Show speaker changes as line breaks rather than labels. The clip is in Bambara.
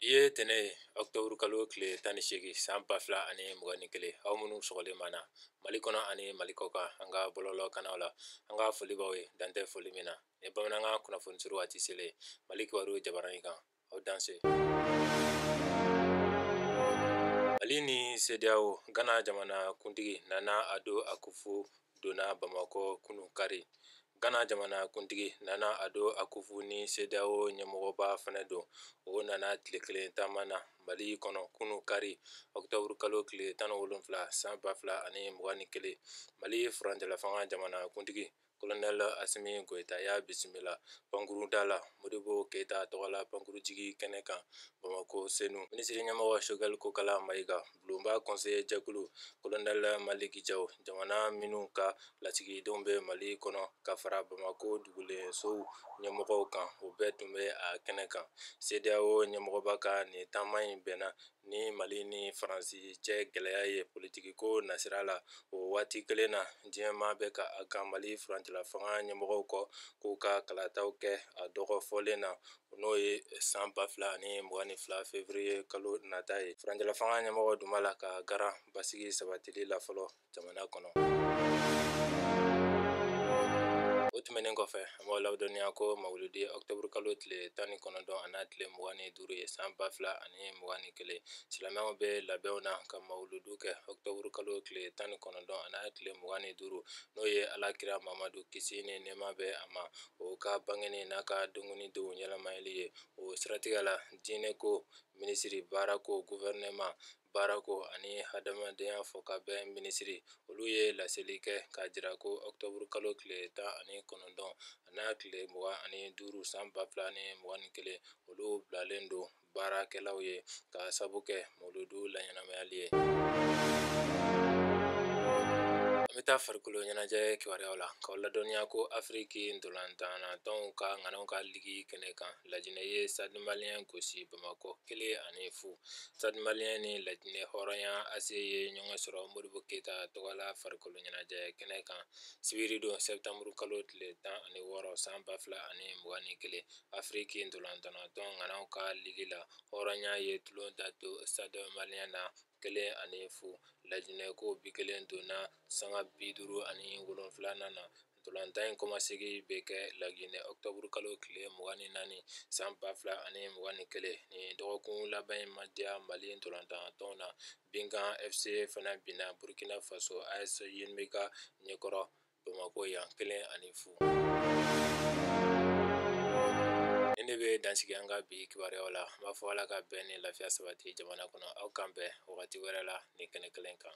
ye tɛnɛ ye ɔktɔburu kalo tile tan ni seegin san ba fila ani mugan ni kelen aw minnu sɔgɔlen b'an na mali kɔnɔ ani mali kɔ kan an ka bɔlɔlɔ kanaw la an ka foli b'aw ye dan tɛ foli min na ni bamanankan kunnafoni suru waati selen mali kibaru jabaranin kan aw danse mali ni CEDEAO gana jamana kuntigi nana ado akufu donna bamakɔ kunu kari Ghana jamanakuntigi Nana Ado Akufu ni CEDEAO ɲɛmɔgɔba fana don. O nana tile kelen taama na Mali kɔnɔ kunu kari octobre kalo tile tan ni wolonfila san ba fila ani mugan ni kelen. Mali furancɛlafanga jamanakuntigi Colonel Assimi Goita y'a bisimila pankuruda la Modibo Keita tɔgɔla pankurujigi kɛnɛ kan Bamako Senu. Minisiriɲɛmɔgɔ Choguel Kokala Maïga. bulonba kɔnseye jɛkulu kolonɛli maliki jawu jamana minnu ka lasigidenw bɛ mali kɔnɔ ka fara bamakɔ dugulensow ɲɛmɔgɔw kan o bɛɛ tun bɛ a kɛnɛ kan CEDEAO ɲɛmɔgɔba ka nin taama in bɛnna ni mali ni faransi cɛ gɛlɛya ye politikiko nasira la o waati kelen na diɲɛma bɛ ka a kan mali furancɛlafanga ɲɛmɔgɔw kɔ k'u ka kalataw kɛ a dɔgɔfɔlen na n'o ye san ba fila ani mugan ni fila fevrier kalo nata ye furancɛla fanga ɲɛmɔgɔw dun b'a la ka garan basigi sabatili la fɔlɔ jamana kɔnɔ o tɛmɛnen kɔfɛ an b'aw ladɔnniya ko mawuludu ye ɔktɔburu kalo tile tan ni kɔnɔntɔn an'a tile mugan ni duuru ye san ba fila ani mugan ni kelen silamɛw bɛ labɛnw na ka mawuludu kɛ ɔktɔburu kalo tile tan ni kɔnɔntɔn an'a tile mugan ni duuru n'o ye ala kira mamadu kisi ni nɛɛma bɛ a ma o ka bangeni n'a ka denkundi donw ɲɛnamayali ye o siratigɛ la diinɛ ko minisiri baara ko gofɛrɛnaman baara ko ani hadamadenya fɔ ka bɛn minisiri olu ye laseli kɛ k'a jira ko ɔktɔburu kalo tile tan ani kɔnɔntɔn an'a tile mugan ani duuru san ba fila ni mugan ni kelen olu bilalen don baarakɛlaw ye ka sabu kɛ mawuludu laɲɛnamayali ye an bɛ taa farikolo ɲɛnajɛ kibaruyaw la k'aw ladɔnniya ko afiriki ntolantanna tɔnw ka ŋanaw ka ligi kɛnɛ kan lajinɛ ye stade malien gosi bamakɔ kelen ani fu stade malien ni lajinɛ hɔrɔnya ase ye ɲɔgɔn sɔrɔ modibo keyita tɔgɔla farikolo ɲɛnajɛ kɛnɛ kan sibiri don sɛtanburukalo tile tan ani wɔɔrɔ san ba fila ani mugan ni kelen afiriki ntolantannatɔn ŋanaw ka ligi la hɔrɔnya ye tulon da to stade malien na kelen ani fu laginɛ ko bi kelen donna sanga bi duuru ani wolonfila na ntolantan in kɔmasegi bɛ kɛ laginɛ ɔktɔburu kalo tile mugan ni naani san ba fila ani mugan ni kelen ni dɔgɔkun laban in ma diya mali ntolantannatɔnw na binga FC fana binna burukina faso AS yenenga ɲɛkɔrɔ bamakɔ yan kelen ani fu nin de bɛ dan sigi an ka bi kibaruyaw la n b'a fɔ ala ka bɛn ni lafiya sabati jamana kɔnɔ aw k'an bɛn wagati wɛrɛ la nin kɛnɛ kelen kan